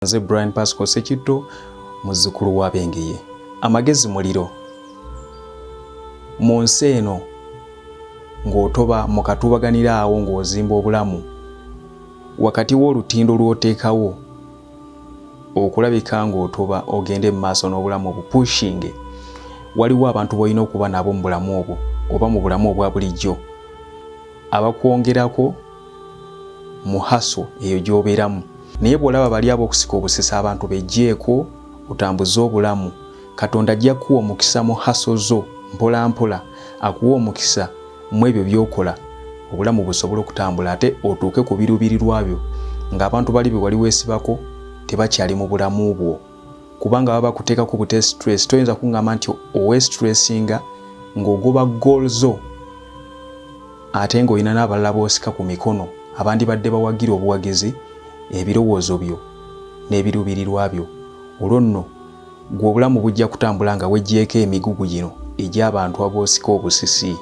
nze Brian Pascal Sekitto muzzukulu wa Bengeye amagezi muliro mu nsi eno ng'otoba mu katuubaganira awo ng'ozimba obulamu wakati w'olutindo lw'oteekawo okulabika ng'otoba ogende mu maaso n'obulamu obupushinge waliwo abantu b'olina okuba nabo mu bulamu obwo oba mu bulamu obwa bulijjo abakwongerako mu haso eyo gy'obeeramu naye bw'olaba bali ab'okusika obusesa abantu bejjeeko otambuze obulamu katonda ajja kukuwa omukisa mu haso zo mpola mpola akuwa omukisa mu ebyo by'okola obulamu busobola okutambula ate otuuke ku biruubirirwa byo ng'abantu bali be wali weesibako tebakyali mu bulamu bwo kubanga baba bakuteeka ku bute stress toyinza kungamba nti owe stressinga ng'ogoba goal zo ate ng'olina n'abalala boosika ku mikono abandibadde bawagira obuwagizi ebirowoozo byo n'ebiruubirirwa byo olwo nno gwe obulamu bujja kutambula nga weggyeko emigugu gino egy'abantu aboosika obusisi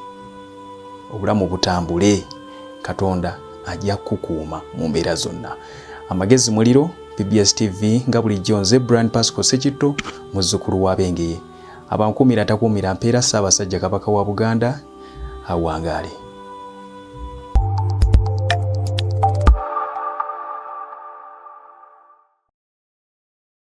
obulamu butambule katonda ajja kukukuuma mu mbeera zonna Amagezi muliro BBS TV nga bulijjo nze Brian Pascal Sekitto muzzukulu wa Bengeye. Abankuumira atakuumira mpeera Ssaabasajja Kabaka wa Buganda awangaale.